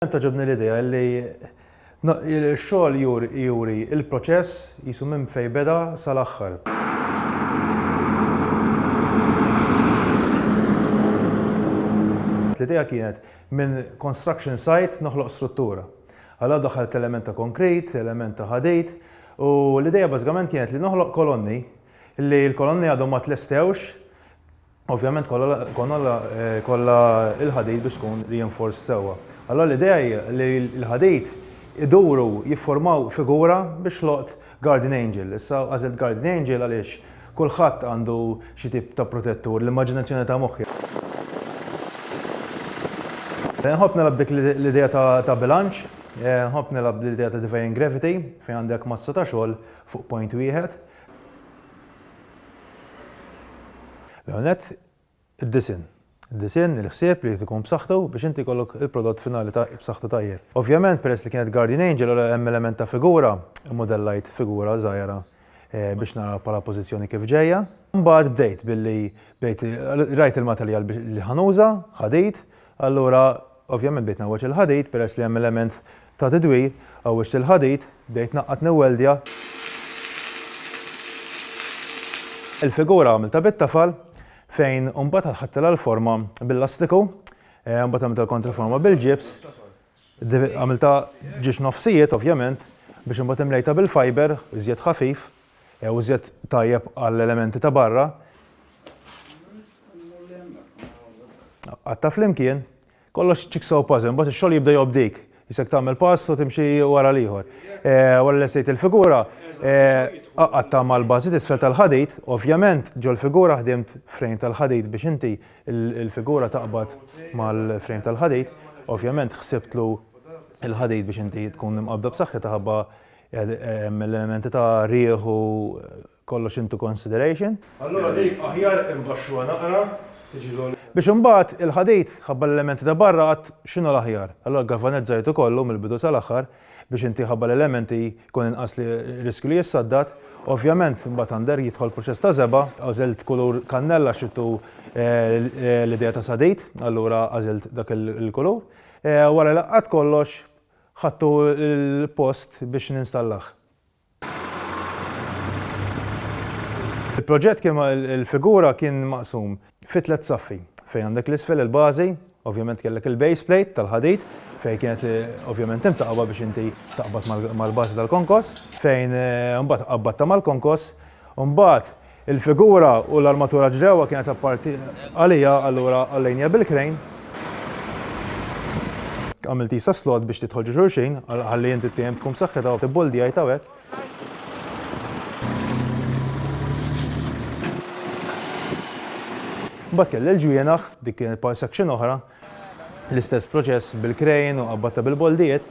Tant togħġobni l-idea li x-xogħol juri l-proċess qisu minn fejn beda sal-aħħar. L-idea kienet minn construction site noħloq struttura. Allura daħħalt element ta' konkrit, element ta' ħadid u l-idea bażikament kienet li noħloq kolonni li l-kolonni għadhom ma tlestewx. Ovvjament kollha kollha l-ħadid biex tkun reinforced sewwa. Allura l-idea hi li l-ħadid iduru jifformaw figura biex ħloqt guardian angel. Issa għażilt guardian angel għaliex kulħadd għandu xi tip ta' protettur, l-immaġinazzjoni ta' moħħi. Nħobb nilgħab b'dik l-idea ta' bilanċ, nħobb nilgħab bl-idea ta' defying gravity fejn għandek massa ta' xogħol fuq point wieħed. L-ewwel nett, id-disinn. Id-disinn, il-ħsieb li jrid ikun b'saħħtu biex inti jkollok il-prodott finali ta' b'saħħtu tajjeb. Ovvjament, peress li kienet guardian angel u hemm element ta' figura, immudellajt figura żgħira biex nara bħala pożizzjoni kif ġejja. Imbagħad bdejt billi bdejt, rajt il-materjal li ħa nuża, ħadid, allura Ovvjament bdejt ngħawweġ il-ħadid peress li hemm element ta' tidwir, għawweġt il-ħadid, bdejt naqqad niwweldja. Il-figura għamiltha bit-tafal fejn imbagħad ħadtilha l-forma bil-lastiku, imbagħad għamiltilha l-kontraforma bil-ġibs, għamiltha ġiex nofsijiet ovvjament biex imbagħad imlejtha bil-fiber iżjed ħafif Iżjed tajjeb għall-elementi ta' barra. Qatta' flimkien. Kollox jigsaw puzzle, imbagħad ix-xogħol jibda jgħobb dik. Isek tagħmel pass u timxi wara l-ieħor. Wara li lessejt il-figura, qatta' mal-bażi t'isfel tal-ħadid, ovvjament ġol-figura ħdimt frame tal-ħadid biex inti l-figura taqbad mal-frame tal-ħadid. Ovvjament ħsibtlu l-ħadid biex inti tkun imqabbda b'saħħitha ħabba Mill-elementi ta' riħ u kollox into consideration. Allura di aħjar imbaxxuha naqra, tiġi l-għoli. Biex imbagħad il-ħadid, ħabba l-elementi ta' barra għad x'inhu l-aħjar? Allura ggalvanizzajtu kollu mill-bidu sal-aħħar biex inti ħabba l-elementi jkun inqas riskju li jissaddad. Ovvjament imbagħad under jidħol proċess ta' żebgħa, għażilt kulur kannella għax rittu l-idea ta' sadid, allura għażilt dak il-kulur. Wara li laqqgħet kollox, Ħadtu l-post biex ninstallah. Il-proġett kien il-figura kien maqsum fi tliet saffi fejn għandek l-isfel il-bażi, ovvjament kellek il-base plate tal-ħadid fejn kienet ovvjament imtaqba biex inti taqbad mal-bażi tal-konkos fejn imbagħad qabbatta mal-konkos u mbagħad Il-figura u l-armatura ġrewwa kienet apparti għalija allura għallejnija bil-krejn. Għamilt qisha slot biex tidħol ġo xulxin ħalli inti t-tiehem tkun b'saħħitha u ibboldjajt hawnhekk. Mbagħad kelli l-ġwienaħ, dik kienet part section oħra, L-istess proċess bil-krejn u qabbatta bil-boldijiet.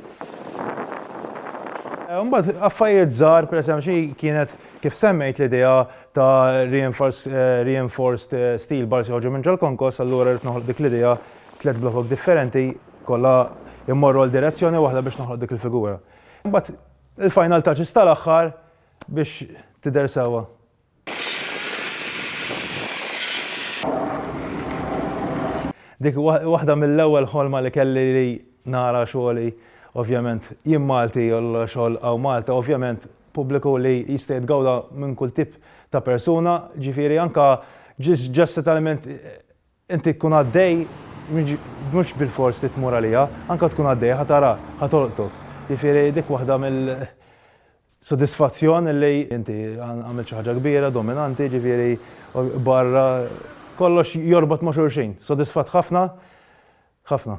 Imbagħad affarijiet żgħar, pereżempju xi kienet kif semmejt l-idea ta' reinforced steel bars joħorġu minn ġol-konkos, allura rrid noħloq dik l-idea tliet blokok differenti kollha jmorru għal direzzjoni waħda biex noħloq dik il-figura. Imbagħad il-final touches tal-aħħar biex tidher sewwa. Dik waħda mill-ewwel ħolma li kelli li nara xogħli ovvjament jien Malti u l-xogħol hawn Malta ovvjament pubbliku li jista' jitgawda minn kull tip ta' persuna ġifieri anke just settlement Inti tkun għaddej, mhux bilfors li tmur għaliha, anke tkun għaddej ħa tara, ħa tolqtok. Jiġifieri dik waħda mill sodisfazzjon li inti għamilt xi ħaġa kbira, dominanti, jiġifieri barra kollox jorbot ma' xulxin. Sodisfatt ħafna, ħafna.